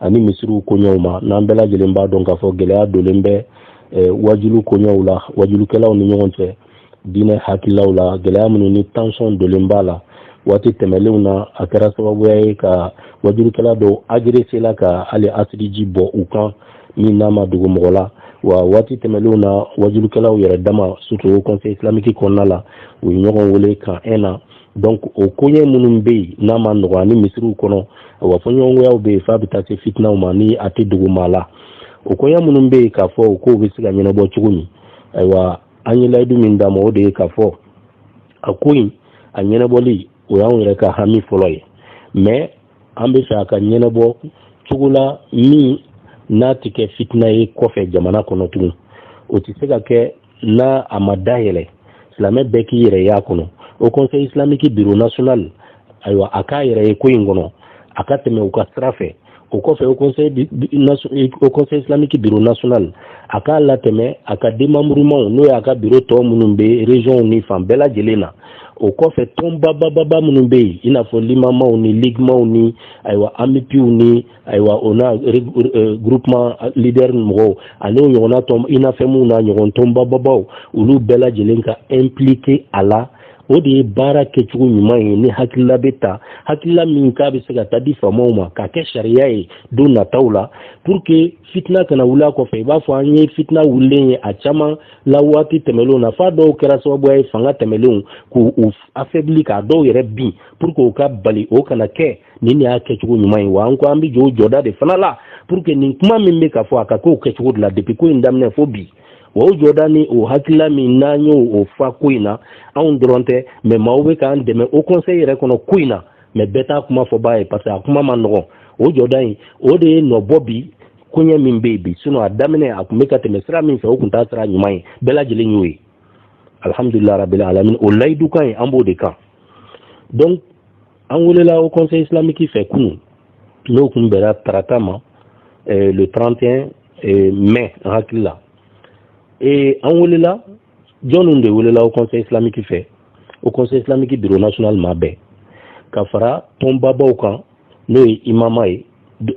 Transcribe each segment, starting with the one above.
ani misiriw koɲɛw ma n'an bɛɛ lajɛlen b'a dɔn k'a fɔ gɛlɛya dolen bɛ eh, wajulu koɲɛw la wajulukɛlaw ni ɲɔgɔn cɛ diinɛ hakililaw la gɛlɛya minnu ni tension dolen b'a la waati tɛmɛlenw na a kɛra sababuya ye ka wajulukɛla dɔw agresser la ka hali asidiji bɔn u kan min n'a ma dogo mɔgɔ la wa waati tɛmɛlenw na wajulukɛlaw yɛrɛ dama surtout haut conseil islamique kɔnɔna la u ye ɲɔgɔn wele camp un na donc o koɲɛ minnu bɛ yen n'a man nɔgɔ ani misiriw kɔnɔ wa fɔɲɔgɔnkɔyaw bɛ yen f'a bɛ taa se fitinaw ma ni a tɛ dogo maa la o koɲɛ minnu bɛ yen k'a fɔ o kow bɛ se ka ɲɛnabɔ cogo min ayiwa an ye layidu min d'a ma o de ye k'a fɔ a ko in a ɲɛnabɔli o y'anw yɛrɛ ka hami fɔlɔ ye mais an bɛ fɛ a ka ɲɛnabɔ cogo la min n'a tɛ kɛ fitina ye kɔfɛ jamana kɔnɔ tugun o tɛ se ka kɛ n'a a ma dayɛlɛ silamɛ bɛɛ k'i yɛrɛ y'a kɔnɔ haut conseil islamique bureau national ayiwa a k'a yɛrɛ ye ko in kɔnɔ a ka tɛmɛ u ka sira fɛ o kɔfɛ haut conseil islamique bureau national a k'a latɛmɛ a ka démembrementw n'o y'a ka biro tɔw minnu bɛ regionw ni fan bɛɛ lajɛlen na o kɔfɛ tɔnbabababa minnu bɛ yen i n'a fɔ limamaw ni ligimaw ni ayiwa amupiw ni ayiwa o n'a euh, groupement leader mɔgɔw ani o ɲɔgɔnna tɔn unafemw n'a ɲɔgɔn tɔnbababaw olu bɛɛ lajɛlen ka impliquer a la o de ye baara kɛcogo ɲuman ye ni hakilila bɛ ta hakilila min k'a bɛ se ka taa di faamaw ma k'a kɛ sariya ye don nataw la pour que fitina kana wuli a kɔfɛ i b'a fɔ an ye fitina wulilen ye a caman la waati tɛmɛnlenw na f'a dɔw kɛra sababuya ye fanga tɛmɛnlenw k'u affaiblir k'a dɔw yɛrɛ bin pour que o ka bali o kana kɛ nin de y'a kɛcogo ɲuman ye wa an ko an bɛ jɔ o jɔda de fana la pour que nin kuma min bɛ ka fɔ a ka k'o kɛcogo de la depuis ko in daminɛ fo bi wa o jɔda ni o hakilila min n'an y'o o fa ko in na anw dɔrɔn tɛ mais maaw bɛ k'an dɛmɛ haut conseil yɛrɛ kɔnɔ ko in na mais bɛɛ t'a kuma fɔbaa ye parce que a kuma man nɔgɔn o jɔda in o de ye nɔ bɔ bi koɲɛ min bɛ yen bi sinon a daminɛ a tun bɛ ka tɛmɛ sira min fɛ o tun t'a sira ɲuman ye bɛɛ lajɛlen y'o ye alhamdulila rabil alamin o layidu kan ye an b'o de kan donc an welela haut conseil islamique fɛ kunu n'o kun bɛra tarata ma eh, le 31 eh, mai an hakili la eh, an welela jɔnw de welela haut conseil islamique fɛ haut conseil islamique bureau national maa bɛɛ ka fara tɔnbabaw kan n'o ye imama ye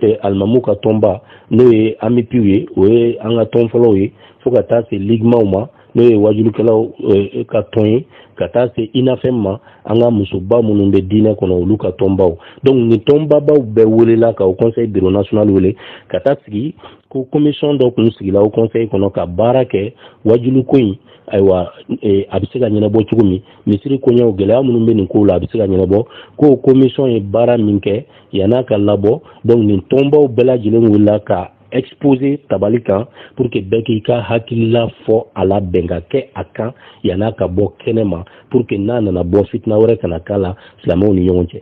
eh, alimamu ka tɔnba n'o ye amupiw ye o ye an ka tɔn fɔlɔw ye fo ka taa se ligimaw ma n'o ye wajulukɛlaw eh, ka tɔn ye ka taa se unafem ma an ka musoba minnu bɛ diinɛ kɔnɔ olu ka tɔnbaw donc nin tɔnbabaw bɛɛ welela ka haut conseil bureau national wele ka taa sigi ko commission dɔ tun sigila haut conseil kɔnɔ ka baara kɛ wajuluko in ayiwa eh, a bɛ se ka ɲɛnabɔ cogo min misiri koɲɛw gɛlɛya minnu bɛ nin kow la a bɛ se ka ɲɛnabɔ ko commission ye baara min kɛ yann'a ka labɔ donc nin tɔnbaw bɛɛ lajɛlen welela ka exposer tabali kan pour que bɛɛ k'i ka hakilila fɔ a la bɛn ka kɛ a kan yann'a ka bɔ kɛnɛ ma pour que n'a nana bɔ fitina wɛrɛ kana k'a la silamɛw ni ɲɔgɔn cɛ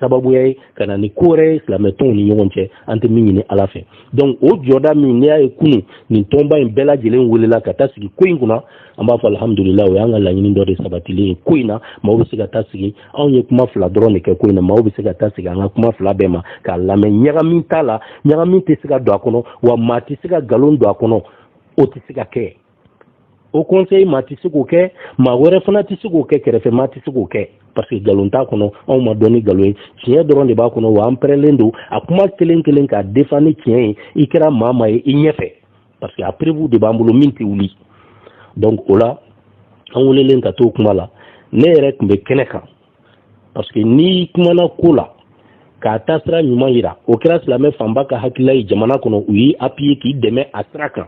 sababuya ye ka na ni ko wɛrɛ ye silamɛtɔnw ni ɲɔgɔn cɛ an tɛ min ɲini ala fɛ donc o jɔda min n'i y'a ye kunu nin tɔnba in bɛɛ lajɛlen welela ka taa sigi ko in kunna an b'a fɔ alhamdulila o y'an ka laɲini dɔ de sabatilen ye ko in na maaw bɛ se ka taa sigi anw ye kuma fila dɔrɔn de kɛ ko in na maaw bɛ se ka taa sigi an ka kuma fila bɛɛ ma k'a lamɛn ɲagamin t'a la ɲagamin tɛ se ka don a kɔnɔ wa maa tɛ se ka nkalon don a kɔnɔ o tɛ se ka kɛ haut conseil maa tɛ se k'o kɛ maa wɛrɛ fana tɛ se k'o kɛ kɛrɛfɛ maa tɛ se k'o kɛ parce que nkalon t'a kɔnɔ anw ma dɔn ni nkalon ye tiɲɛ dɔrɔn de b'a kɔnɔ wa an pɛrɛlen don a kuma kelen kelen k'a defa ni tiɲɛ ye i kɛra maa maa ye i ɲɛfɛ parce que a preuve de b'an bolo min tɛ wuli donc o la an welelen ka t'o kuma la ne yɛrɛ tun bɛ kɛnɛ kan parce que n'i kumana ko la k'a taasira ɲuman yira o kɛra silamɛ fanba ka hakilila ye jamana kɔnɔ u y'i appuyer k'i dɛmɛ a sira kan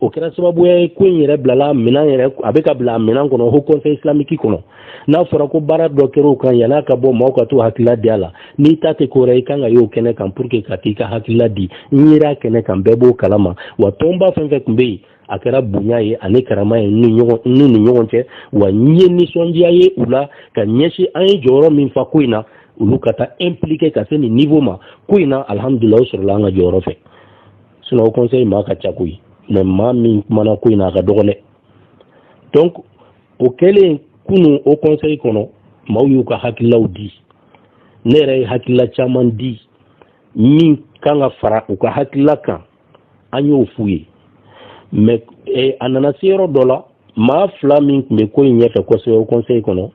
o kɛra sababuya ye ko in yɛrɛ bilala minɛn yɛrɛ a bɛ ka bila minɛn kɔnɔ haut conseil islamique kɔnɔ n'a fɔra ko baara dɔ kɛra o kan yan'a ka bɔ maaw ka t'u hakilila di a la n'i ta tɛ ko wɛrɛ i kan ka y'o kɛnɛ kan pour que ka t'i ka hakilila di n yera kɛnɛ kan bɛɛ b'o kalama wa tɔnba fɛn fɛn tun bɛ yen a kɛra bonya ye ani karama ye n'u ni ɲɔgɔn cɛ wa n ye nisɔndiya ye u la ka ɲɛsin an ye jɔyɔrɔ min fa ko in na olu ka taa impliquer ka se nin niveau ma ko in na alhamdulila o sɔrɔla an ka jɔyɔrɔ fɛ sinon haut conseil maa ka ca koyi mais maa min kumana ko in na a ka dɔgɔn dɛ donc o kɛlen kunun haut conseil kɔnɔ maaw y'u ka hakililaw di ne yɛrɛ ye hakilila caman di min kan ka fara u ka hakilila kan an y'o f'u ye mais eh, a nana se yɔrɔ dɔ la maa fila min tun bɛ ko in ɲɛfɛ kosɛbɛ haut conseil kɔnɔ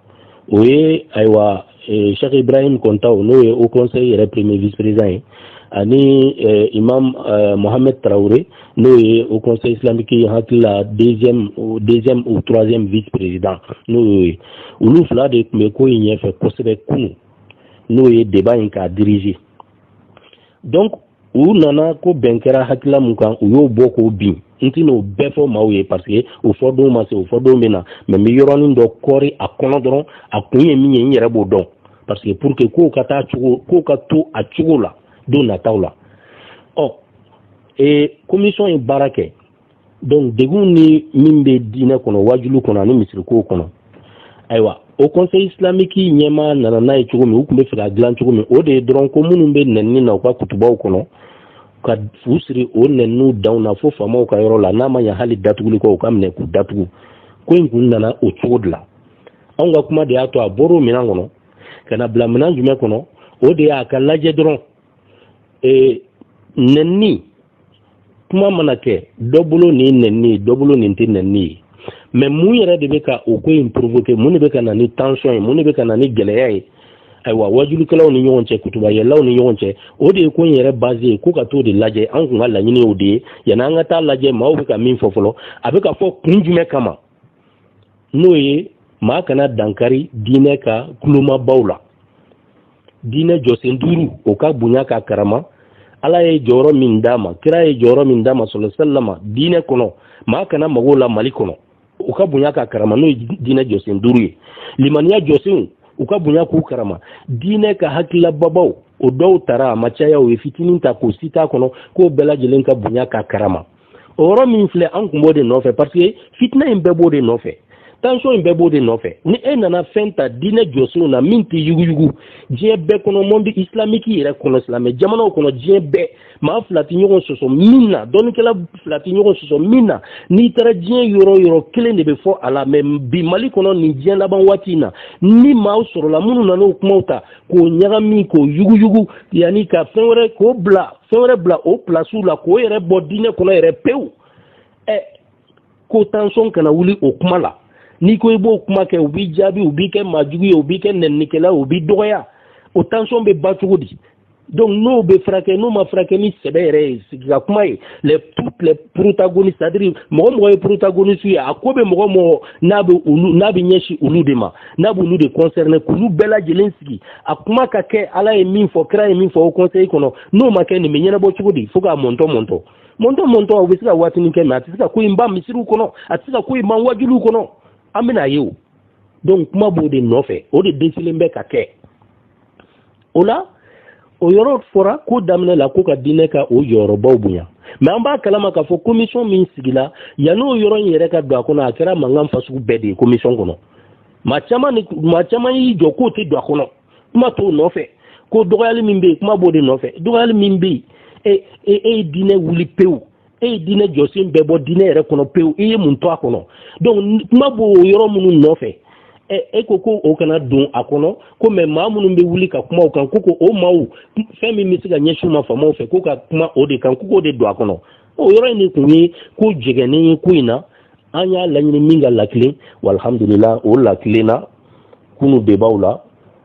o ye ayiwa eh, cheick ibrahim kontao n'o ye haut conseil yɛrɛ premier vice président ye ani eh, imam eh, mohamed tarawele n'o ye haut conseil islamique ne hakili la deuxième deuxième ou troisième vice président n'o y'o ye olu fila de tun bɛ ko in ɲɛfɛ kosɛbɛ kunu n'o ye débat in k'a diriger donc u nana ko bɛn kɛra hakilila mun kan u y'o bɔ k'o bin n tɛna o bɛɛ fɔ maaw ye parce que o fɔdon ma se o fɔdon bɛ na mais n bɛ yɔrɔnin dɔ kɔri a kɔnɔ dɔrɔn a kun ye min ye n yɛrɛ b'o dɔn parce que pour que kow ka taa cogo kow ka to a cogo la don nataw la ɔ ee commission ye baara kɛ donc degun ni min bɛ diinɛ kɔnɔ wajulu kɔnɔ ani misirikow kɔnɔ ayiwa haut conseil islamique ɲɛmaa nana n'a ye cogo min u tun b'a fɛ k'a dilan cogo min o de ye dɔrɔn ko minnu bɛ nɛnini na u ka kutubaw kɔnɔ ka fu siri o nɛniniw danw na fo faamaw ka yɔrɔ la n'a ma ɲa hali datuguliko u ka minɛ k'u datugu ko in kun nana o cogo de la anw ka kuma de y'a to a bɔr'o minɛn kɔnɔ ka n'a bila minɛn jumɛn kɔnɔ o de y'a ka lajɛ dɔrɔn ee nɛnni kuma mana kɛ dɔ bolo nin nɛnni ye dɔ bolo nin tɛ nɛnni ye mais mun yɛrɛ de bɛ ka o ko in provoquer mun de bɛ ka na ni tension ye mun de bɛ ka na ni gɛlɛya ye ayiwa wajulikɛlaw ni ɲɔgɔn cɛ kutubayɛlaw ni ɲɔgɔn cɛ o de ye ko in yɛrɛ base ye ko ka t'o de lajɛ an kun ka laɲini o de ye yanni an ka taa lajɛ maaw bɛ ka min fɔ fɔlɔ a bɛ ka fɔ kun jumɛn kama n'o ye maa kana dankari diinɛ ka kulomabaw la diinɛ jɔsen duuru o ka bonya ka karama ala ye jɔyɔrɔ min d'a ma kira ye jɔyɔrɔ min d'a ma sallallahu alaihi wasallam diinɛ kɔnɔ maa kana mag'o la mali kɔnɔ u ka bonya ka karama n'o ye diinɛ jɔsen duuru ye limaniya jɔsenw u ka bonya k'u karama diinɛ ka hakililababaw o dɔw tara a ma caya u ye fitinin ta k'o citer a kɔnɔ k'o bɛɛ lajɛlen ka bonya ka karama o yɔrɔ min filɛ an kun b'o de nɔfɛ parce que fitina in bɛɛ b'o de nɔfɛ tension in bɛɛ b'o de nɔfɛ ni e nana fɛn ta diinɛ jɔsenw na min tɛ yuguyugu diɲɛ bɛɛ kɔnɔ monde islamique yɛrɛ kɔnɔ silamɛ jamanaw kɔnɔ diɲɛ bɛɛ maa fila tɛ ɲɔgɔn sɔsɔ min na dɔnnikɛla fila tɛ ɲɔgɔn sɔsɔ min na n'i taara diɲɛ yɔrɔ yɔrɔ kelen de bɛ fɔ a la mais bi mali kɔnɔ nin diɲɛ laban waati in na ni maaw sɔrɔla minnu nana o kumaw ta k'o ɲagami k'o yuguyugu yanni ka fɛn wɛrɛ k'o bila fɛn wɛrɛ bila o pilasiw la k'o yɛrɛ bɔ diinɛ kɔnɔ yɛrɛ pewu ɛ ko tension kana wuli o kuma la n'i ko i b'o kuma kɛ u b'i jaabi u b'i kɛ maajugu ye u b'i kɛ nɛninikɛla u b'i dɔgɔya o tension bɛ ban cogo di donc n'o bɛ furakɛ n'o ma furakɛ ni sɛbɛ yɛrɛ ye sigi ka kuma ye les toutes les protagonistes c'est à dire mɔgɔ mɔgɔ ye protagoniste ye a ko bɛ mɔgɔ mɔgɔ n'a bɛ olu n'a bɛ ɲɛsin olu de ma n'a b'olu de concerné k'olu bɛɛ lajɛlen sigi a kuma ka kɛ ala ye min fɔ kira ye min fɔ haut conseil kɔnɔ n'o ma kɛ nin bɛ ɲɛnabɔ cogo di fo k'a mɔntɔ mɔntɔ mɔntɔ mɔntɔ o bɛ se ka waatinin kɛ mais a tɛ se ka ko in ban misiriw kɔnɔ a tɛ se ka ko in ban wajuliw kɔnɔ an bɛna a ye o donc kuma b'o de nɔfɛ o de dɛsɛlen bɛ ka kɛ o la o yɔrɔ fɔra ko daminɛ la ko ka diinɛ ka o jɔyɔrɔbaw bonya mais an b'a kalama k'a fɔ commission min sigila yan'o yɔrɔ in yɛrɛ ka don a kɔnɔ a kɛra mankan fasugu bɛɛ de ye commission kɔnɔ maa caman maa caman y'i jɔ k'o tɛ don a kɔnɔ kuma t'o nɔfɛ ko dɔgɔyali min bɛ yen kuma b'o de nɔfɛ dɔgɔyali min bɛ yen e e, e ye diinɛ wuli pewu e ye diinɛ jɔsen bɛɛ bɔ diinɛ yɛrɛ kɔnɔ pewu i ye mun to a kɔnɔ donc kuma b'o yɔrɔ minnu nɔfɛ e ko ko o kana don a kɔnɔ ko mais maa minnu bɛ wuli ka kuma o kan ko ko o maaw fɛn min bɛ se ka ɲɛsin ma faamaw fɛ ko ka kuma o de kan ko k'o de don a kɔnɔ o yɔrɔ in de tun ye ko jɛgɛnnen ye ko in na an y'a laɲini min ka lakilen walhamdulila o lakilenna kunu debaw la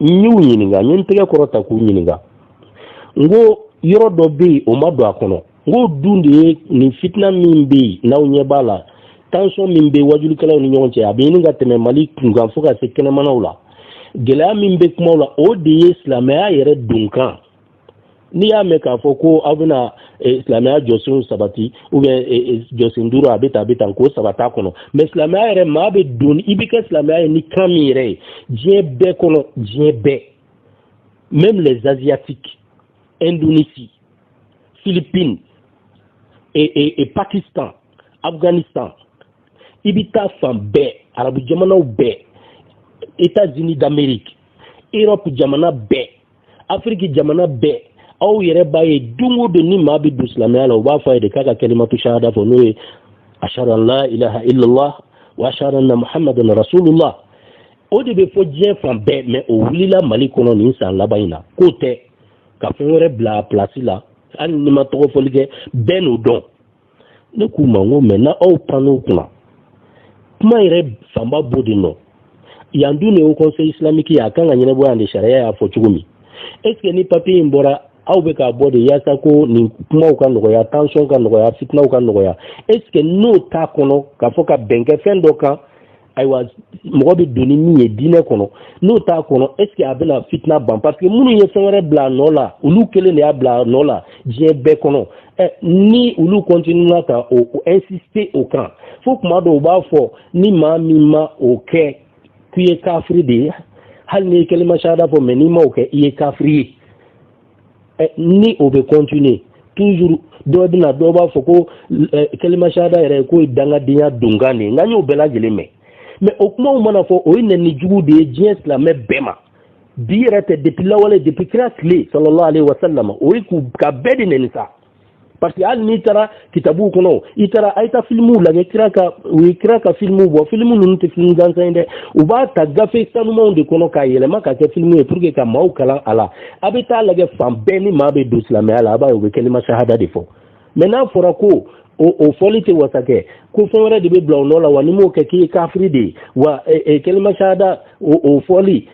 n y'u ɲininka n ye n tɛgɛ kɔrɔta k'u ɲininka n ko yɔrɔ dɔ bɛ yen o ma don a kɔnɔ n ko o dun de ye nin fitina min bɛ yen n'aw ɲɛ b'a la tension min bɛ wajulikɛlaw ni ɲɔgɔn cɛ a bɛ ɲini ka tɛmɛ mali kunkan fo ka se kɛnɛmanaw la gɛlɛya min bɛ kumaw la o de ye silamɛya yɛrɛ donkan n'i y'a mɛn k'a fɔ ko aw bɛna eh, silamɛya jɔsenw sabati ou bien eh, eh, jɔsen duuru a bɛ tan a bɛ tan k'o sabati a kɔnɔ mais silamɛya yɛrɛ maa bɛ don i bɛ kɛ silamɛya ye ni kan min yɛrɛ ye diɲɛ bɛɛ kɔnɔ diɲɛ bɛɛ même les asiatiques indonésie philippines et, et, et pakistan afghanistan i bɛ taa fan bɛɛ arabu jamanaw bɛɛ états unis d'amérique europe jamana bɛɛ afiriki jamana bɛɛ aw yɛrɛ b'a ye don o don ni maa bɛ don silamɛya la u b'a fɔ a ye de k'a ka kalimatu shahada fɔ n'o ye ashhadu an la ilaha illallah wa ashhadu anna muhammadan rasulullah o de bɛ fɔ diɲɛ fan bɛɛ mais o wulila mali kɔnɔ nin san laban in na k'o tɛ ka fɛn wɛrɛ bila a pilasi la hali ni n ma tɔgɔ fɔli kɛ bɛɛ n'o dɔn ne k'u ma n ko mun na aw pann'o kunna kuma yɛrɛ fanba b'o de nɔ yan dun ye haut conseil islamique ye a kan ka ɲɛnabɔ yan de sariya y'a fɔ cogo min est ce que ni papier in bɔra aw bɛ k'a bɔ de yaasa ko nin kumaw ka nɔgɔya tension ka nɔgɔya fitinaw ka nɔgɔya est ce que n'o t'a kɔnɔ k'a fɔ ka bɛn kɛ fɛn dɔ kan ayiwa mɔgɔ bɛ don ni min ye diinɛ kɔnɔ n'o t'a kɔnɔ est ce que a bɛna fitina ban parce que minnu ye fɛn wɛrɛ bila a nɔ la olu kelen de y'a bila a nɔ la diɲɛ bɛɛ kɔnɔ ɛ ni olu continuera ka o o insister o kan fo tuma dɔw u b'a fɔ ni maa min ma o kɛ k'i ye kafiri de ye hali n'i ye kalima shahada fɔ mais n'i ma o kɛ i ye kafiri ye ni o bɛ continuer toujours dɔ bɛna dɔw b'a fɔ ko kalima shahada yɛrɛ ye k'o ye dangadenya donkan de ye nka n y'o bɛɛ lajɛlen mɛn mais o kumaw mana fɔ o ye nɛni jugu de ye diɲɛ silamɛ bɛɛ ma bi yɛrɛ tɛ depuis lawale depuis kira tile sallallahu alayhi wa sallam o ye k'u ka bɛɛ de nɛni sa parce que hali n'i taara kitabuw kɔnɔ i taara a ye taa filimuw lajɛ kira ka u ye kira ka filimuw bɔ filimu ninnu tɛ filimu gansan ye dɛ u b'a ta gafe sanumanw de kɔnɔ k'a yɛlɛma ka kɛ filimu ye pour que ka maaw kalan a la a bɛ taa lajɛ fan bɛɛ ni maa bɛ don silamɛya la a b'a ye u bɛ kalima shahada de fɔ mais n'a fɔra ko o fɔli tɛ wasa kɛ ko fɛn wɛrɛ de bɛ bila o nɔ la wa n'i m'o kɛ k'i ye kafiri de ye wa kalima shahada o fɔli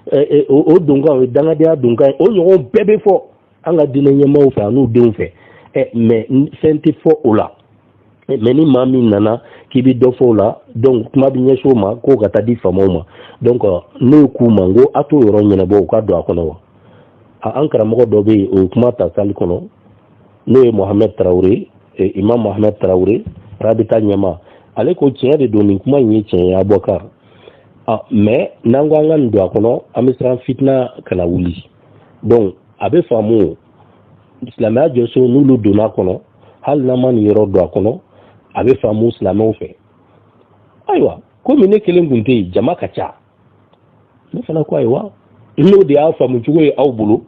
o donkan o ye dangadenya donkan ye o ɲɔgɔn bɛɛ bɛ fɔ an ka diinɛ ɲɛmaaw fɛ an'u denw fɛ ɛ mais fɛn tɛ fɔ o la mais ni maa min nana k'i bɛ dɔ fɔ o la donc kuma bɛ ɲɛsin o ma k'o ka taa di faamaw ma donc ne k'u ma n ko a t'o yɔrɔ ɲɛnabɔ o ka don a kɔnɔ wa an karamɔgɔ dɔ bɛ yen o ye kuma ta salle kɔnɔ n'o ye mohamɛd tarawele imam mohamɛd tarawele rabita ɲɛmaa ale ko tiɲɛ de don nin kuma in ye tiɲɛ ye abubakar mais n'an ko an ka nin don a kɔnɔ an bɛ siran fitina kana wuli donc a bɛ faamu silamɛya jɔsen n'olu donna a kɔnɔ hali n'an ma nin yɔrɔ don a kɔnɔ a bɛ faamu silamɛw fɛ ayiwa komi ne kelen tun tɛ yen jama ka ca ne fana ko ayiwa n'o de y'a faamucogo ye aw bolo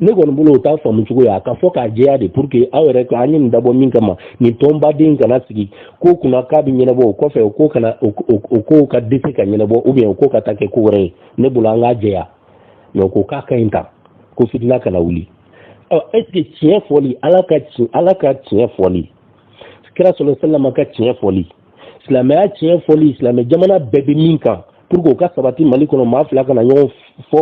ne kɔni bolo o t'a faamucogo ye a ka fɔ k'a jɛya de pour que aw yɛrɛ an ye nin dabɔ min kama nin tɔnbaden kana sigi ko kunna k'a bɛ ɲɛnabɔ o kɔfɛ o ko kana o ko ka dɛsɛ ka ɲɛnabɔ ou bien o ko ka taa kɛ ko wɛrɛ ye ne bolo an k'a jɛya mais ko k'a ka ɲi ta ko fitina kana wuli ɔ est ce que tiɲɛ fɔli ala ka tiɲɛ ala ka tiɲɛ fɔli kira sallallahu alayhi wasallam ka tiɲɛ fɔli silamɛya tiɲɛ fɔli silamɛ jamana bɛɛ bɛ min kan pour que o ka sabati mali kɔnɔ maa fila kana ɲɔgɔn fɔ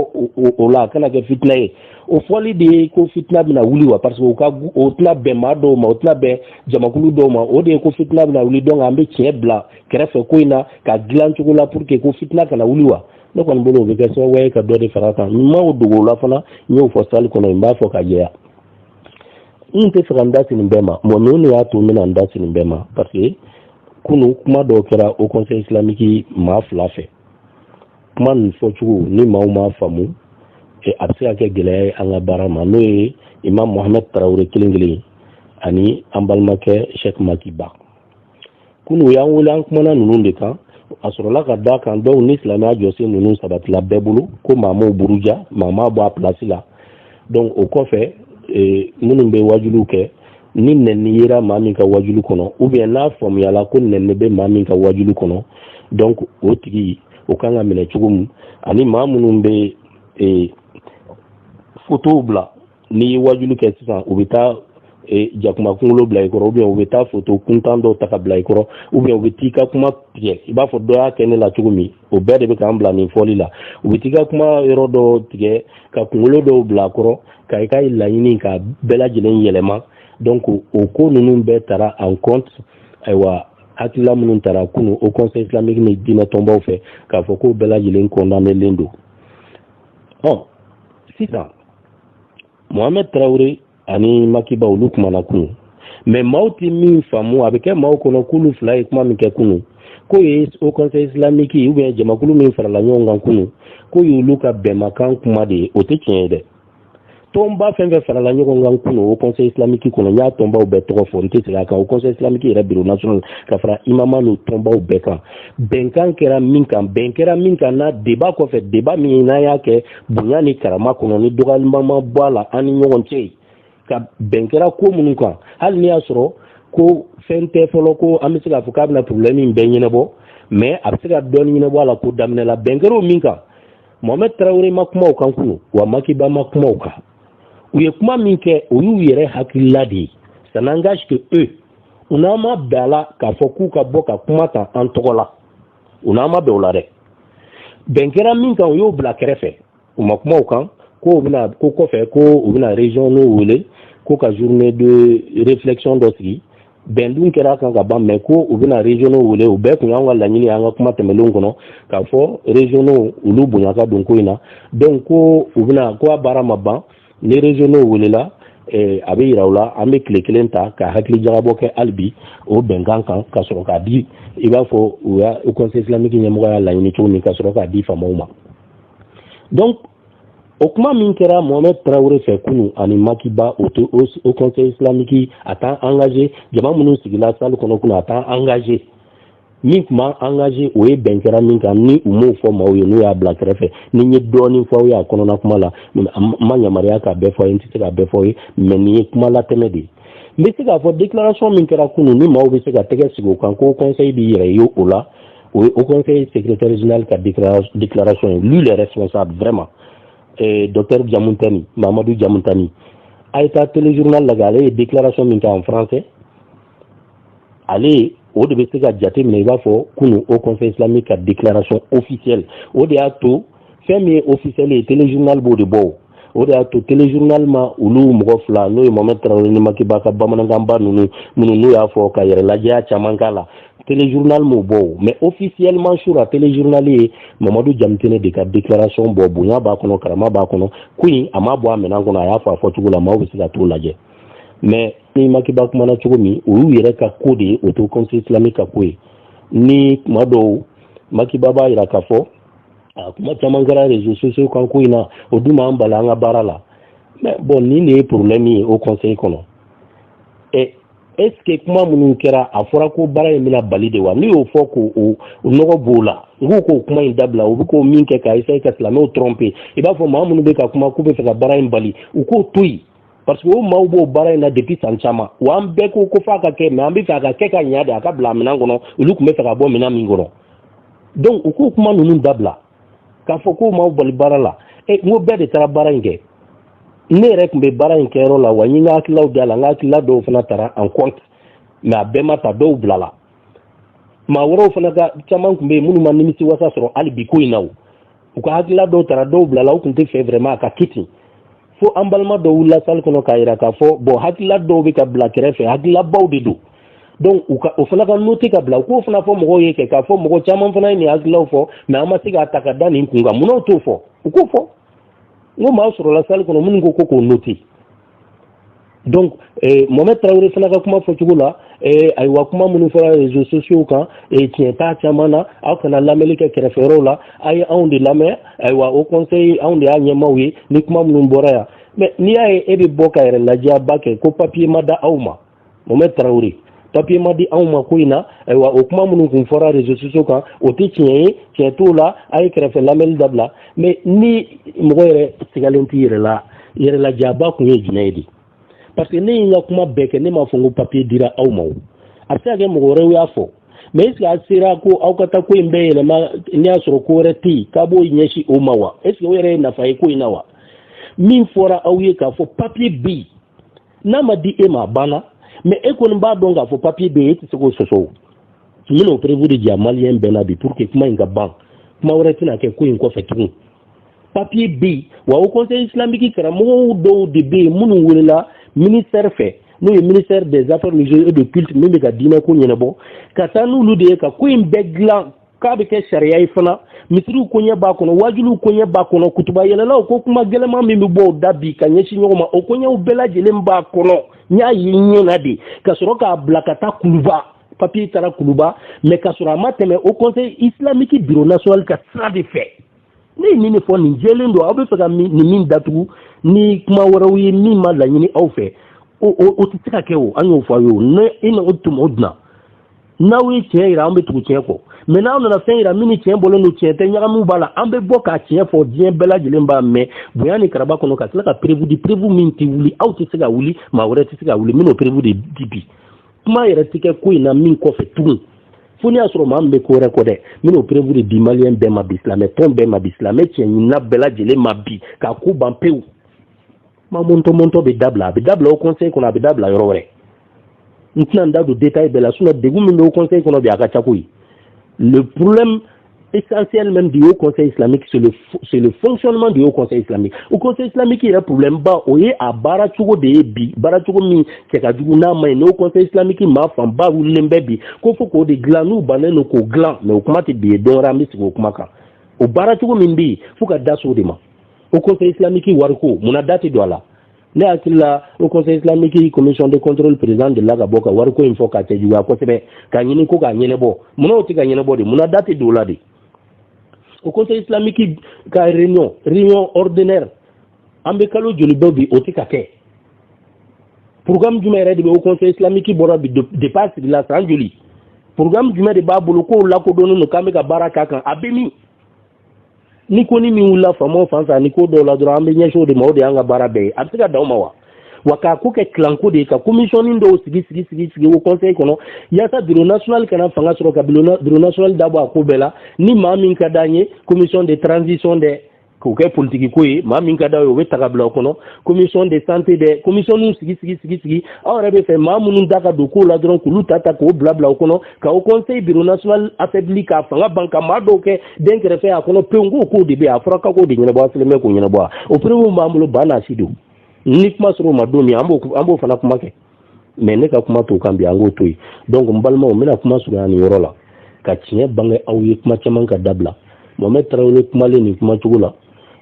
o la a kana kɛ fitina ye o fɔli de ye ko fitina bɛna wuli wa parce que o ka o tɛna bɛn maa dɔw ma o tɛna bɛn jamakulu dɔw ma o de ye ko fitina bɛna wuli donc an bɛ tiɲɛ bila kɛrɛfɛ ko in na ka dilan cogo la pour que ko fitina kana wuli wa ne kɔni bolo o bɛ kɛ sababu ye ka dɔ de fara kan n m'o dogo o la fana n y'o fɔ salle kɔnɔ n b'a fɔ ka jɛya n t'a fɛ ka n da sin nin bɛɛ ma mun de y'a to n bɛna n da sin nin bɛɛ ma parce que kunu kuma dɔw kɛra haut conseil islamique maa fila fɛ kuma nin fɔcogo ni maaw m'a faamu a bɛ se ka kɛ gɛlɛya ye an ka baara ma n'o ye imam mohamed tarawele kelen kelen ani an balimakɛ sheikh maki ba kunu u y'an wele an kumana ninnu de kan a sɔrɔla ka da a kan dɔw ni silamɛya jɔsen ninnu sabatila bɛɛ bolo ko maa m'o buruja maa m'a bɔ a pilasi la donc o kɔfɛ e, minnu bɛ wajuliw kɛ ni nɛni yera maa min ka wajuli kɔnɔ ou bien n'a faamuyala ko nɛni bɛ maa min ka wajuli kɔnɔ donc o tigi o kan ka minɛ cogo min ani maa minnu bɛ e, fotow bila n'i ye wajulu kɛ sisan u bɛ taa e, jakuma kunkolo bila i kɔrɔ ou bien u bɛ taa foto kuntan dɔw ta ka bila i kɔrɔ ou bien u bɛ t'i ka kuma tigɛ i b'a fɔ dɔ y'a kɛ ne la cogo min o bɛɛ de bɛ k'an bila nin fɔli la u bɛ t'i ka kuma yɔrɔ dɔw tigɛ ka kunkolo dɔw bila a kɔrɔ ka i ka laɲini ka bɛɛ lajɛlen yɛlɛma donc o ko ninnu bɛɛ tara en compte ayiwa hakilila minnu tara kunu haut conseil islamique ni diinɛ tɔnbaw fɛ k'a fɔ k'o bɛɛ lajɛlen condamnelen don ɔ sisan mohamɛd tarawele ani makiba olu kumana kunu mais maaw tɛ min faamu a bɛ kɛ maaw kɔnɔ k'olu fila ye kuma min kɛ kunu k'o ye haut conseil islamique ou bien jamakulu min farala ɲɔgɔn kan kunu k'o y'olu ka bɛnmakan kuma de ye o tɛ tiɲɛ ye dɛ tɔnba fɛn fɛn farala ɲɔgɔn kan kunu haut conseil islamique kɔnɔ n y'a tɔnbaw bɛɛ tɔgɔ fɔ n tɛ segin a kan haut conseil islamique yɛrɛ bureau national ka fara imama n'o tɔnbaw bɛɛ kan bɛnkan kɛra min kan bɛn kɛra min kan na débat kɔfɛ débat min n'an y'a kɛ bonya ni karama kɔnɔ ni dɔgɔyalima ma bɔ a la an ni ɲɔgɔn cɛ yen ka bɛn kɛra ko minnu kan hali n'i y'a sɔrɔ ko fɛn tɛ fɔlɔ ko an bɛ se k'a fɔ k'a bɛna problème in bɛɛ ɲɛnabɔ mais a bɛ se ka dɔɔni ɲɛnabɔ a la ko daminɛ la bɛn kɛra o min kan mohamɛdi tarawele ma kuma o kan kunu wa makiba ma kuma o kan u ye kuma min kɛ o y'u yɛrɛ hakilila de ye ça n'engage que eux u n'an ma bɛn a la k'a fɔ k'u ka bɔ ka kuma ta an tɔgɔ la u n'an ma bɛn o la dɛ bɛn kɛra min kan u y'o bila kɛrɛfɛ u ma kuma o kan ko u bɛna ko kɔfɛ ko u bɛna régionaux wele ko ka journée de réflexion dɔ sigi bɛn dun kɛra a kan ka ban mais ko u bɛna régionaux wele o bɛɛ tun y'an ka laɲini an ka kuma tɛmɛnlenw kɔnɔ k'a fɔ régionaux olu bonya ka don ko in na donc ko u bɛna ko a baara ma ban ni régionaux welela eh, a bɛ yira u la an bɛ tile kelen ta ka hakili jagabɔ kɛ hali bi o bɛnkan kan ka sɔrɔ k'a di i b'a fɔ u y'a haut conseil islamique ɲɛmɔgɔ y'a laɲini cogo min ka sɔrɔ k'a di faamaw ma donc o kuma min kɛra mohamɛd tarawele fɛ kunu ani makiba o tɛ haut conseil islamique a t'an engagé jama minnu sigila salle kɔnɔ kunu a t'an engagé min tun b'an engagé o ye bɛn kɛra min kan ni u m'o fɔ maaw ye n'u y'a bila kɛrɛfɛ ni n ye dɔɔnin fɔ aw ye a kɔnɔna kuma la n ma yamaruya k'a bɛɛ fɔ a ye n tɛ se k'a bɛɛ fɔ aw ye mais nin ye kuma latɛmɛ de ye n bɛ se k'a fɔ déclaration min kɛra kunun ni maaw bɛ se ka tɛgɛ sigi o kan ko conseil b'i yɛrɛ ye o la o ye haut conseil secrétaire général ka déclaration ye lui le responsable vraiment eh, docteur Diamoutani Mamadou Diamoutani a ye taa téléjournal lajɛ ale ye déclaration min kɛ en français ale o de bɛ se ka jate minɛ i b'a fɔ kunu haut conseil islamique ka déclaration officielle o de y'a to fɛn min ye officiel ye téléjournal b'o de bɔ o de y'a to téléjournal ma olu mɔgɔ fila n'o ye Mohamed Traoré ni Makiba ka bamanankanba ninnu minnu n'u y'a fɔ ka yɛrɛ lajɛya caman k'a la téléjournal m'o bɔ o mais officiellement sira la téléjournal ye Mamadou Diamoutani de ka déclaration bɔ bonya b'a kɔnɔ karama b'a kɔnɔ ko in a m'a bɔ a minɛn kɔnɔ a y'a fɔ a fɔcogo la maaw bɛ se ka t'o lajɛ mais ni makiba kumana cogo min o y'u yɛrɛ ka ko de ye haut conseil islamique ka ko ye ni kuma dɔw makiba b'a yira k'a fɔ a kuma caman kɛra réseaux sociaux kan ko in na o dun m'an bali an ka baara la mais bon nin de ye problème ye haut conseil kɔnɔ ɛ est ce que kuma minnu kɛra a fɔra ko baara in bɛna bali de wa n'u y'o fɔ k'o o nɔgɔ b'o la n k'u k'o kuma in dabila u bɛ ko min kɛ ka essaye ka silamɛw trompe i b'a fɔ maa minnu bɛ ka kuma k'u bɛ fɛ ka baara in bali u k'o to yen parce que o maaw b'o baara in na depuis san caman wa an bɛɛ ko ko f'a ka kɛ mais an bɛ fɛ a ka kɛ ka ɲa de a ka bila minɛn kɔnɔ olu tun bɛ fɛ ka bɔ minɛn min kɔnɔ donc u k'o kuma ninnu dabila k'a fɔ k'o maaw bali baara la e n ko bɛɛ de taara baara in kɛ ne yɛrɛ tun bɛ baara in kɛyɔrɔ la wa n ye n ka hakililaw da la n ka hakilila dɔw fana tara en compte mais a bɛɛ ma ta dɔw bilala maa wɛrɛw fana ka caman tun bɛ yen minnu ma nimisi wasa sɔrɔ hali bi ko in na o u ka hakilila dɔw tara dɔw bilala u tun tɛ fɛ vraiment a ka kɛ ten fo an balima dɔw wulila salle kɔnɔ k'a yira k'a fɔ bon hakilila dɔw bɛ ka bila kɛrɛfɛ hakililabaw de don donc o fana ka note ka bila u k'o fana fɔ mɔgɔw ye kɛ k'a fɔ mɔgɔ caman fana ye nin hakililaw fɔ mais an ma se k'a ta ka da nin kun kan munna u t'o fɔ u k'o fɔ n ko maa sɔrɔla salle kɔnɔ minnu ko ko k'o note donc eh, mohamɛd tarawele fana ka kuma fɔcogo la eh, ayiwa kuma minnu fɔra réseaux sociaux kan eh, tiɲɛ t'a caman na aw kana lamɛnni kɛ kɛrɛfɛyɔrɔw la a ye anw de lamɛn ayiwa haut conseil anw de y'a ɲɛmaaw ye ni kuma minnu bɔra yan mais n'i y'a ye e bɛ bɔ ka yɛrɛ lajɛyaba kɛ ko papier ma d'aw ma mohamɛd tarawele papiye ma di anw ma ko in na ayiwa o kuma minnu kun fɔra réseaux sociaux kan o tɛ tiɲɛ ye tiɲɛ t'o la a ye kɛrɛfɛ lamɛnni dabila mais ni mɔgɔ yɛrɛ sigalen t'i yɛrɛ la yɛrɛ lajɛyaba kun ye jumɛn ye de parce que ne ye n ka kuma bɛɛ kɛ ne m'a fɔ n ko papiye dira aw ma o a bɛ se ka kɛ mɔgɔ wɛrɛw y'a fɔ mais est ce que a sera ko aw ka taa ko in bɛɛ yɛlɛma n'i y'a sɔrɔ ko wɛrɛ tɛ yen k'a b'o ɲɛsin o ma wa est ce que o yɛrɛ ye nafa ye ko in na wa min fɔra aw ye k'a fɔ papiye bɛ yen n'a ma di e ma a banna mais e kɔni b'a dɔn k'a fɔ papiye bɛ yen e tɛ se k'o sɔsɔ o n bɛna o preuve de jira maliyɛn bɛɛ la bi pour que kuma in ka ban kuma wɛrɛ tɛna kɛ ko in kɔfɛ tugun papiye bɛ yen wa haut conseil islamique karamɔgɔw dɔw de bɛ yen minnu welela ministère fɛ n'o ye ministère des affaires religieuses et de culte min bɛ ka diinɛko ɲɛnabɔ ka taa n'olu de ye ka ko in bɛɛ dilan k'a bɛ kɛ sariya ye fana misiriw koɲɛ b'a kɔnɔ wajuliw koɲɛ b'a kɔnɔ kutuba yɛlɛlaw ko kuma gɛlɛman min bɛ bɔ u da bi ka ɲɛsin ɲɔgɔn ma o koɲɛw bɛɛ lajɛlen b'a kɔnɔ n y'a ye ɲɛ na de ka sɔrɔ k'a bila ka taa kuluba papiye taara kuluba mais ka sɔrɔ a ma tɛmɛ haut conseil islamique bureau national ka sira de fɛ ne ye nin de fɔ nin jɛlen don aw bɛ fɛ ka nin min datugu ni kuma wɛrɛw ye min ma laɲini aw fɛ o tɛ se ka kɛ o an y'o fɔ aw ye o ne e na o tuma o dunna n'aw ye tiɲɛ yira an bɛ tugu tiɲɛ kɔ mais n'aw nana fɛn yira min ni tiɲɛ bɔlen don tiɲɛ tɛ ɲagamiw b'a la an bɛ bɔ k'a tiɲɛ fɔ diɲɛ bɛɛ lajɛlen b'a mɛn bonya ni karaba kɔnɔ ka tila ka preuve di preuve min tɛ wuli aw tɛ se ka wuli maa wɛrɛ tɛ se ka wuli n bɛn'o preuve de di bi kuma yɛrɛ tɛ kɛ ko in na min kɔfɛ tugun fo n'i y'a sɔrɔ maa min bɛ ko wɛrɛ kɔ dɛ n bɛn'o preuve de di maliyɛn bɛɛ ma bi silamɛ tɔn bɛɛ ma bi silamɛ tiɲɛ ɲinina bɛɛ lajɛlen ma bi k'a ko ban pewu kuma mɔntɔmɔntɔ bɛ dabila a bɛ dabila haut conseil kɔnɔ a bɛ dabila yɔrɔ wɛrɛ n tɛna n da don détail bɛɛ la sinon degun min bɛ haut conseil kɔnɔ bi a ka ca koyi le problème essentiel même du haut conseil islamique c'est le, c'est le fonctionnement du haut conseil islamique haut conseil islamique yɛrɛ problème ba o ye a baara cogo de ye bi baara cogo min cɛ ka jugu n'a ma ɲi ni haut conseil islamique maa fanba wulilen bɛ bi ko fo k'o de dilan n'u bannen don k'o dilan mais o kuma tɛ bi ye don wɛrɛ an bɛ sigi o kuma kan o baara cogo min bɛ yen fo ka da so de ma haut conseil islamique wariko mun na da tɛ don a la ne hakili la haut conseil islamique commission de contrôle président delila ka bɔ ka wariko in fɔ k'a cɛjuguya kosɛbɛ ka ɲini ko k'a ɲɛnɛbɔ munna o tɛ ka ɲɛnɛbɔ de mun na da tɛ don o la de haut conseil islamique ka réunion réunion ordinaire an bɛ kalo joli bɔ bi o tɛ ka kɛ programme jumɛn yɛrɛ de bɛ haut conseil islamique bolo bi depuis a sigila san joli programme jumɛn de b'a bolo k'o lakodɔnnen don k'an bɛ ka baara k'a kan a bɛ min ni ko ni min wulila faamaw fan fɛ ani ko dɔw la dɔrɔn an bɛ ɲɛsin o de ma o de y'an ka baara bɛɛ ye a bɛ se ka dan o ma wa wa k'a ko kɛ clan ko de ye ka commissionnin dɔw sigi sigi sigi sigi haut conseil kɔnɔ yaasa bureau national kana fanga sɔrɔ ka bureau national da bɔ a ko bɛɛ la ni maa min ka d'an ye commission de transition dɛ k'o kɛ politiki ko ye maa min ka d'aw ye o bɛ ta ka bila o kɔnɔ commission de santé dɛ commissionninw sigi sigi sigi sigi aw yɛrɛ b'a fɛ maa minnu da ka don ko la dɔrɔn k'olu ta ta k'o bila bila o kɔnɔ ka haut conseil bureau national affaibli k'a fanga ban ka maa dɔw kɛ dɛnkɛrɛfɛ a kɔnɔ pewu ko k'o de bɛ a fɔra ka k'o de ɲɛnabɔ a selen bɛ k'o ɲɛnabɔ a o preuve b'an bolo ba n'a si don ni kuma sera o ma don min an b'o an b'o fana kuma kɛ mais ne ka kuma t'o kan bi an k'o to yen donc n balimaw n bɛna kuma surunya nin yɔrɔ la ka tiɲɛ bange aw ye kuma caman ka dabila mohamɛd tarawele kumalen nin kuma cogo la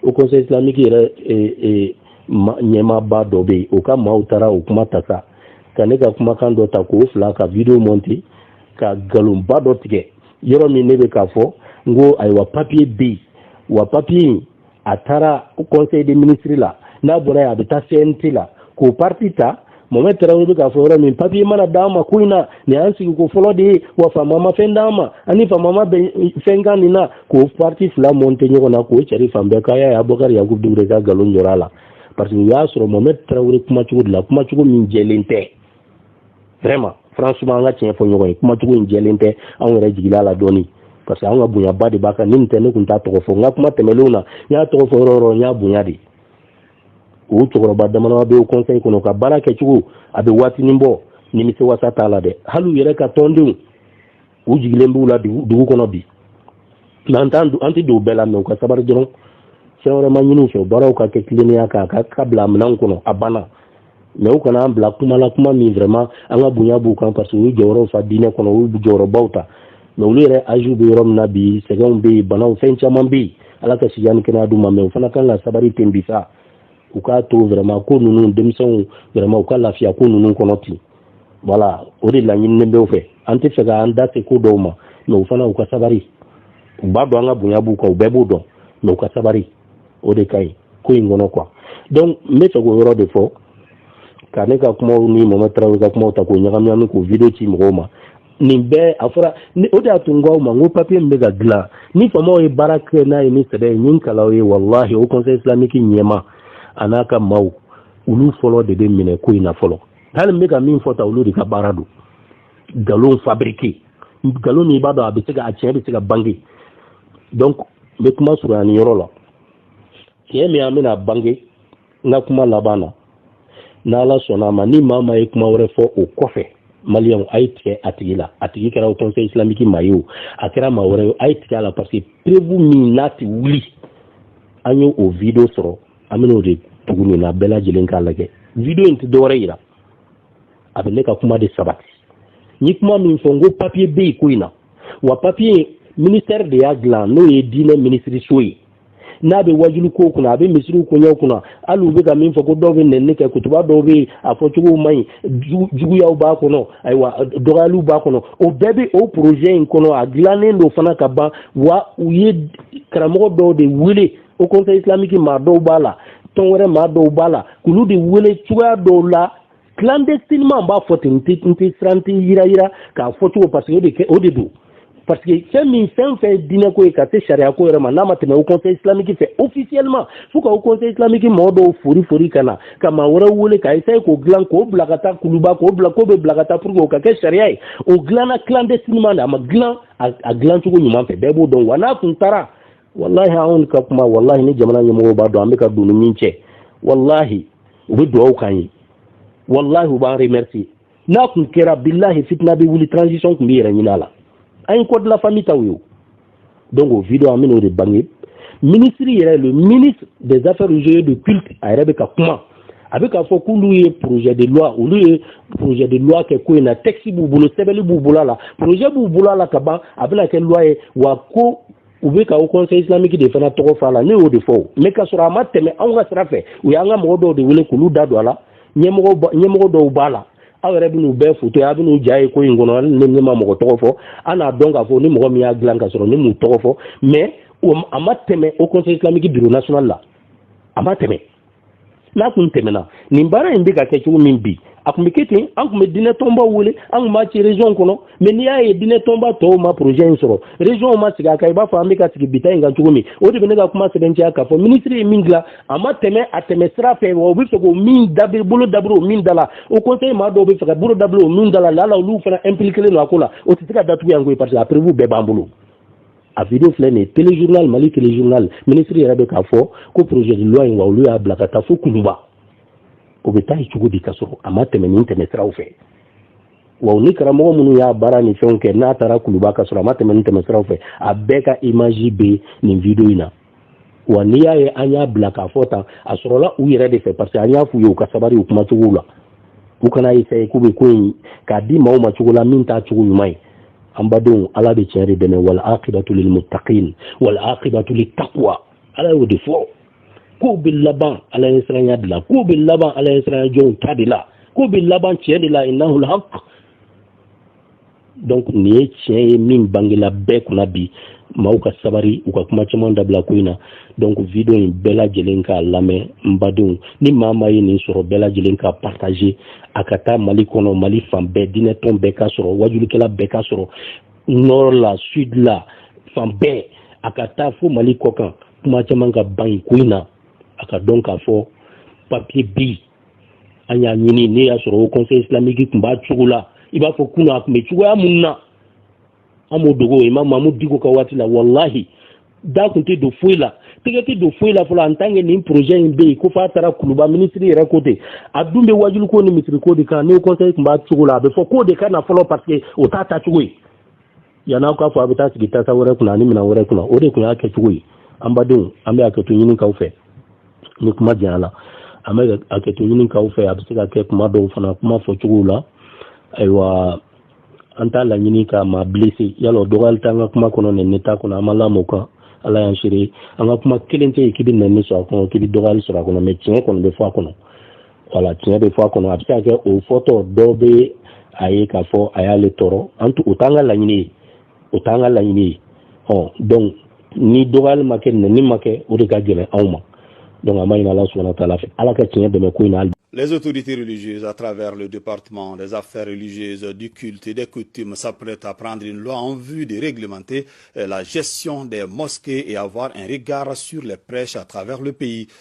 haut conseil islamique yɛrɛ ɲɛmaaba dɔ bɛ yen o ka maaw taara o kuma ta sa ka ne ka kumakan dɔ ta k'o fila ka vidéo monter ka nkalonba dɔ tigɛ yɔrɔ min ne bɛ k'a fɔ n ko ayiwa papier bɛ yen wa papier in a taara conseil des ministres la n'a bɔra yen a bɛ taa cnt la k'o partie ta mohamɛd tarawele bɛ k'a fɔ yɔrɔ min papier mana d'an ma ko in na nin y'an sigiko fɔlɔ de ye wa faama ma fɛn d'an ma an ni faama ma bɛn fɛn kan nin na k'o partie fila monter ɲɔgɔn na k'o cari fan bɛɛ k'aw y'a ye abubakari yakubu dukure ka nkalon jɔra a la parce que u y'a sɔrɔ mohamɛd tarawele kumacogo de la kumacogo min jɛlen tɛ vraiment franchement an ka tiɲɛ fɔ ɲɔgɔn ye kumacogo in jɛlen tɛ anw yɛrɛ jigila la dɔɔni parce que anw ka bonyaba de b'a kan ni nin tɛ ne tun t'a tɔgɔ fɔ n ka kuma tɛmɛlenw na n y'a tɔgɔ fɔ yɔrɔ o yɔrɔ n y'a bonya de o cɛkɔrɔba damadama bɛ haut conseil kɔnɔ ka baara kɛcogo a bɛ waatinin bɔ nimisiwasa t'a la dɛ hali u yɛrɛ ka tɔndenw u jigilen b'u la dugu kɔnɔ bi mais an t'an an tɛ don o bɛɛ la mais u ka sabari dɔrɔn fɛn wɛrɛ ma ɲini u fɛ baaraw ka kɛ tilennenya kan ka bila minɛn kɔnɔ a banna mais u kana an bila kuma la kuma min vraiment an ka bonya b'u kan parce que u ye jɔyɔrɔw fa diinɛ kɔnɔ u ye jɔyɔrɔbaw ta mais olu yɛrɛ âgew bɛ yɔrɔ min na bi sɛgɛnw bɛ yen banaw fɛn caman bɛ yen ala ka sijan ni kɛnɛya d'u ma mais u fana kan ka sabari ten bi sa u k'a to vraiment ko ninnu denmisɛnw vraiment u ka lafiya ko ninnu kɔnɔ ten voilà o de laɲininen bɛ u fɛ an tɛ fɛ ka an da se ko dɔw ma mais u fana u ka sabari u b'a dɔn an ka bonya b'u kan u bɛɛ b'o dɔn mais u ka sabari o de ka ɲi ko in kɔnɔ quoi donc n bɛ fɛ k'o yɔrɔ de fɔ ka ne ka kumaw ni mohamɛd tarawele ka kumaw ta k'o ɲagami k'o video ci mɔgɔw ma nin bɛɛ a fɔra o de y'a to n k'aw ma n ko papiye min bɛ ka dilan ni faamaw ye baara kɛ n'a ye ni sɛbɛn ye min kalaw ye walahi haut conseil islamique ɲɛmaa n'a ka maaw olu fɔlɔ de bɛ minɛ ko in na fɔlɔ hali n bɛ ka min fɔ ta olu de ka baara don nkalon fabriqué nkalon min i b'a dɔn a bɛ se a tiɲɛ bɛ se ka bange donc n bɛ kuma surunya nin yɔrɔ la tiɲɛ min an bɛna bange n ka kuma laban na n'ala sɔnna a ma ni maa maa ye kuma wɛrɛ fɔ o kɔfɛ maliyɛnw a ye tigɛ a tigi la a tigi kɛra haut conseil islamique maa ye o a kɛra maa wɛrɛ ye a ye tigɛ a la parce que preuve min n'a tɛ wuli an ye o video sɔrɔ an bɛn'o de tugu nin na bɛɛ lajɛlen k'a lajɛ video in tɛ dɔwɛrɛ yira a bɛ ne ka kuma de sabati n ye kuma min fɔ n ko papiye bɛ yen ko in na wa papiye ministère de y'a dilan n'o ye diinɛ minisiriso ye n'a bɛ wajuli ko kunna a bɛ misiriw koɲɛw kunna hali u bɛ ka min fɔ ko dɔw bɛ nɛni kɛ kutuba dɔw bɛ yen a fɔcogow man ɲi juguyaw b'a kɔnɔ ayiwa dɔgɔyaliw b'a kɔnɔ o bɛɛ bɛ o projet in kɔnɔ a dilannen don fana ka ban wa u ye karamɔgɔ dɔw de wele haut conseil islamique maa dɔw b'a la tɔn wɛrɛ maa dɔw b'a la k'olu de wele cogoya dɔw la clandestinement n b'a fɔ ten n tɛ n tɛ siran n tɛ yɛrɛyɛrɛ k'a fɔ cogo parce que o de kɛ o de don parce que fɛn min fɛn o fɛn ye diinɛ ko ye ka se sariya ko yɛrɛ ma n'a ma tɛmɛ haut conseil islamique fɛ officiellement fo ka haut conseil islamique mɔgɔ dɔw fori fori ka na ka maa wɛrɛw wele ka essayer k'o dilan k'o bila ka taa kuluba k'o bila k'o bɛ bila ka taa pour que o ka kɛ sariya ye o dilanna clandestinement de a ma dilan a dilan cogo ɲuman fɛ bɛɛ b'o dɔn wa n'a tun taara walahi anw ka kuma walahi ni jamana ɲɛmɔgɔw b'a dɔn an bɛ ka don ni min cɛ walahi u bɛ dugawu k'an ye walahi u b'an remercier n'a tun kɛra bilahi fitina bɛ wuli transition tun bɛ yɛrɛ ɲini a la an ye code de la famille taw ye donc o video an bɛn'o de bange minisiri yɛrɛ le ministre des affaires religieuses de culte a yɛrɛ bɛ ka kuma a bɛ k'a fɔ k'olu ye projet de loi olu ye projet de loi kɛ ko in na texte b'u bolo sɛbɛnni b'u bolo a la projet b'u bolo a la ka ban a bɛna kɛ loi ye wa ko u bɛ ka haut conseil islamique de fana tɔgɔ fɔ a la ne y'o de fɔ o mais ka sɔrɔ a ma tɛmɛ anw ka sira fɛ u y'an ka mɔgɔ dɔw de wele k'olu da don a la ɲɛmɔgɔ dɔw b'a la aw yɛrɛ bɛn'u bɛɛ foto ye a bɛn'u ja ye ko in kɔnɔ hali ni ne ma mɔgɔ tɔgɔ fɔ an n'a dɔn k'a fɔ ni mɔgɔ min y'a dilan ka sɔrɔ ne m'u tɔgɔ fɔ mais a ma tɛmɛ haut conseil islamique bureau national la a ma tɛmɛ n'a kun tɛmɛna nin baara in bɛ ka kɛ cogo min bi a kun bɛ kɛ ten an kun bɛ diinɛ tɔnbaw wele an kun b'a ci région kɔnɔ mais n'i y'a ye diinɛ tɔnba tɔw ma projet in sɔrɔ région ma sigi a kan i b'a fɔ an bɛ ka sigi bi ta in kan cogo min o de bɛ ne ka kuma sɛbɛntiya k'a fɔ ministre ye min dilan a ma tɛmɛ a tɛmɛ sira fɛ wa u bɛ fɛ k'o min bolo dabiri o min da la haut conseil maa dɔw bɛ fɛ ka bolo dabiri o min da la lala olu fana impliqué don a ko la o tɛ se ka datugu yan koyi parce que a preuve bɛɛ b'an bolo a video filɛ nin ye téléjournal mali téléjournal minisiri yɛrɛ bɛ k'a fɔ ko projet de loi in wa olu y'a bila ka taa fo kuluba o bɛ taa yen cogo di ka sɔrɔ a ma tɛmɛ nin tɛmɛ siraw fɛ wa ni karamɔgɔ minnu y'a baara ni fɛnw kɛ n'a taara kuluba ka sɔrɔ a ma tɛmɛ nin tɛmɛ siraw fɛ a bɛɛ ka image bɛ nin video in na wa n'i y'a ye an y'a bila k'a fɔ tan a sɔrɔla u yɛrɛ de fɛ parce que an y'a f'u ye u ka sabari u kumacogow la u kana essayer k'u bɛ ko in k'a di maaw ma cogo la min t'a cogo ɲuman ye an badenw ala bɛ tiɲɛ de dɛmɛ wal akibatu lil muttaqin wal akibatu lit taqwa ala y'o de fɔ ko bɛ laban ala ɲɛsiranya de la ko bɛ laban ala ɲɛsiranya jɔnw ta de la ko bɛ laban tiɲɛ de la innahul haq donc nin ye tiɲɛ ye min bangela bɛɛ kunna bi maaw ka sabari u ka kuma caman dabila ko in na donc video in bɛɛ lajɛlen k'a lamɛn n badenw ni maa maa ye nin sɔrɔ bɛɛ lajɛlen k'a partager a ka taa mali kɔnɔ mali fan bɛɛ diinɛtɔn bɛɛ k'a sɔrɔ wajulikɛla bɛɛ k'a sɔrɔ nord la sud la fan bɛɛ a ka taa fo mali kɔkan kuma caman ka ban ko in na a ka dɔn k'a fɔ papiye bi an y'a ɲini ne y'a sɔrɔ haut conseil islamique tun b'a cogo la i b'a fɔ kunun a tun bɛ cogoya min na an m'o dogo imam mamudu diko ka waati la walahi da tun tɛ don foyi la tɛgɛ tɛ don foyi la fɔlɔ en tant que nin projet in bɛ yen ko f'a taara kuluba minisiri yɛrɛ ko ten a dun bɛ wajuliko ni misiriko de kan ni haut conseil tun b'a cogo la a bɛ fɔ k'o de ka na fɔlɔ parce que o t'a taacogo ye yan'aw k'a fɔ a bɛ taa sigi tasa wɛrɛ kunna ani minɛn wɛrɛ kunna o de tun y'a kɛcogo ye an badenw an bɛ hakɛto ɲini aw fɛ ni kuma janyala an bɛ hakɛto ɲini aw fɛ a bɛ se ka kɛ kuma dɔw fana kuma fɔcogow la ayiwa an t'a laɲini ka maa blessé yala o dɔgɔyali t'an ka kuma kɔnɔ nɛni t'a kɔnɔ an ma lamɔ kan ala y'an seere an ka kuma kelen tɛ yen k'i bɛ nɛni sɔrɔ a kɔnɔ k'i bɛ dɔgɔyali sɔrɔ a kɔnɔ mais tiɲɛ kɔni bɛ fɔ a kɔnɔ voilà tiɲɛ bɛ fɔ a kɔnɔ a bɛ se ka kɛ o fɔtɔ dɔw bɛ a ye k'a fɔ a y'ale tɔɔrɔ an o t'an ka laɲini ye o t'an ka laɲini ye ɔ donc ni dɔgɔyali ma kɛ nɛni ma kɛ o de ka gɛlɛn anw ma donc an b'a ɲini ala subahana wa taala fɛ ala ka tiɲɛ dɛmɛ ko in na Les autorités religieuses à travers le département des affaires religieuses, du culte et des coutumes s'apprêtent à prendre une loi en vue de réglementer euh, la gestion des mosquées et avoir un regard sur les prêches à travers le pays.